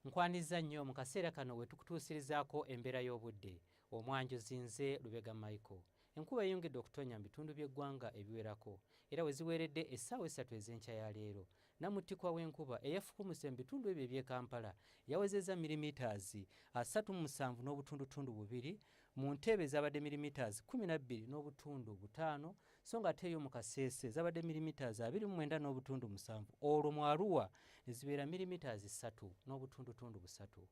nkwanizza nnyo mu kaseera kano we tukutuusirizaako embeera y'obudde omwanjuzi nze lubega michael enkuba eyongedde okutonya mu bitundu by'eggwanga ebiwerako era we ziweeredde essaawa essatu ez'enkya ya leero namuttikwa w'enkuba eyafukumuse mu bitundu ebyo eby'e kampala yawezezza mirimitazi asatu mu musanvu n'obutundutundu bubiri mu nteebe ezabadde mirimitazi kumi na bbiri n'obutundu butaano so nga ate eyo mu kasese zabadde milimiters abiri mu mwenda n'obutundu musanvu olwo mu aruwa ne zibeera milimiters ssatu n'obutundutundu busatu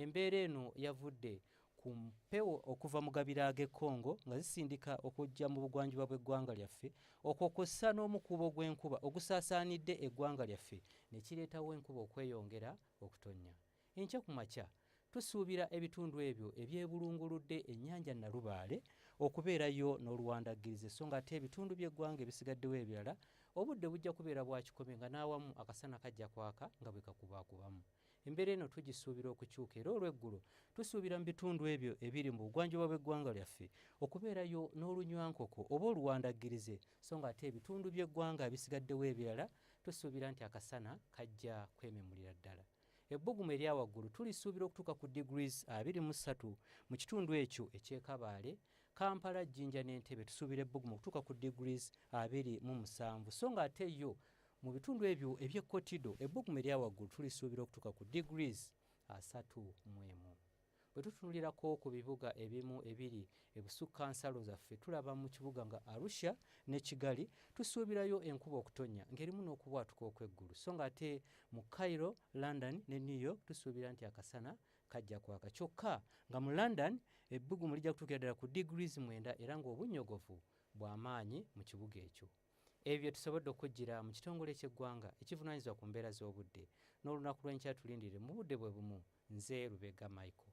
embeera eno yavudde ku mpewo okuva mu gabira ag'e congo nga zisindika okujja mu bugwanjuba bw'eggwanga lyaffe okwo kw'ossa n'omukuubo gw'enkuba ogusaasaanidde eggwanga lyaffe ne kireetawo enkuba okweyongera okutonnya Enkya ku makya tusuubira ebitundu ebyo ebyebulunguludde ennyanja Nalubaale okubeerayo n'oluwandaggirize so ng'ate ebitundu by'eggwanga ebisigaddewo ebirala obudde bujja kubeera bwa kikome nga n'awamu akasana kajja kwaka nga bwe kakubaakubamu. Embeera eno tugisuubira okukyuka era olw'eggulo tusuubira mu bitundu ebyo ebiri mu bugwanjuba bw'eggwanga lyaffe okubeerayo n'olunywankoko oba oluwandaggirize so ng'ate ebitundu by'eggwanga ebisigaddewo ebirala tusuubira nti akasana kajja kwememulira ddala. Ebbugumu erya waggulu tulisuubira okutuuka ku degrees abiri mu ssatu mu kitundu ekyo eky'ekabaale kampala jjinja n'entebe tusuubira ebbugumu okutuuka ku degrees abiri mu musanvu so nga ate yo mu bitundu ebyo eby'ekkotido ebbugumu erya waggulu tulisuubira okutuuka ku degrees asatu mu emu Bwe tutunulirako ku bibuga ebimu ebiri ebusukka nsalo zaffe tulaba mu kibuga nga Arusha ne Kigali tusuubirayo enkuba okutonnya ng'erimu n'okubwatuka okw'eggulu so ng'ate mu Cairo, London ne New York tusuubira nti akasana kajja kwaka kyokka nga mu London ebbugumu lijja kutuukira ddala ku degrees mwenda era ng'obunnyogovu bwa maanyi mu kibuga ekyo. Ebyo bye tusobodde okujjira mu kitongole ky'eggwanga ekivunaanyizibwa ku mbeera z'obudde n'olunaku lw'enkya tulindirire mu budde bwe bumu. Nze Lubega Michael.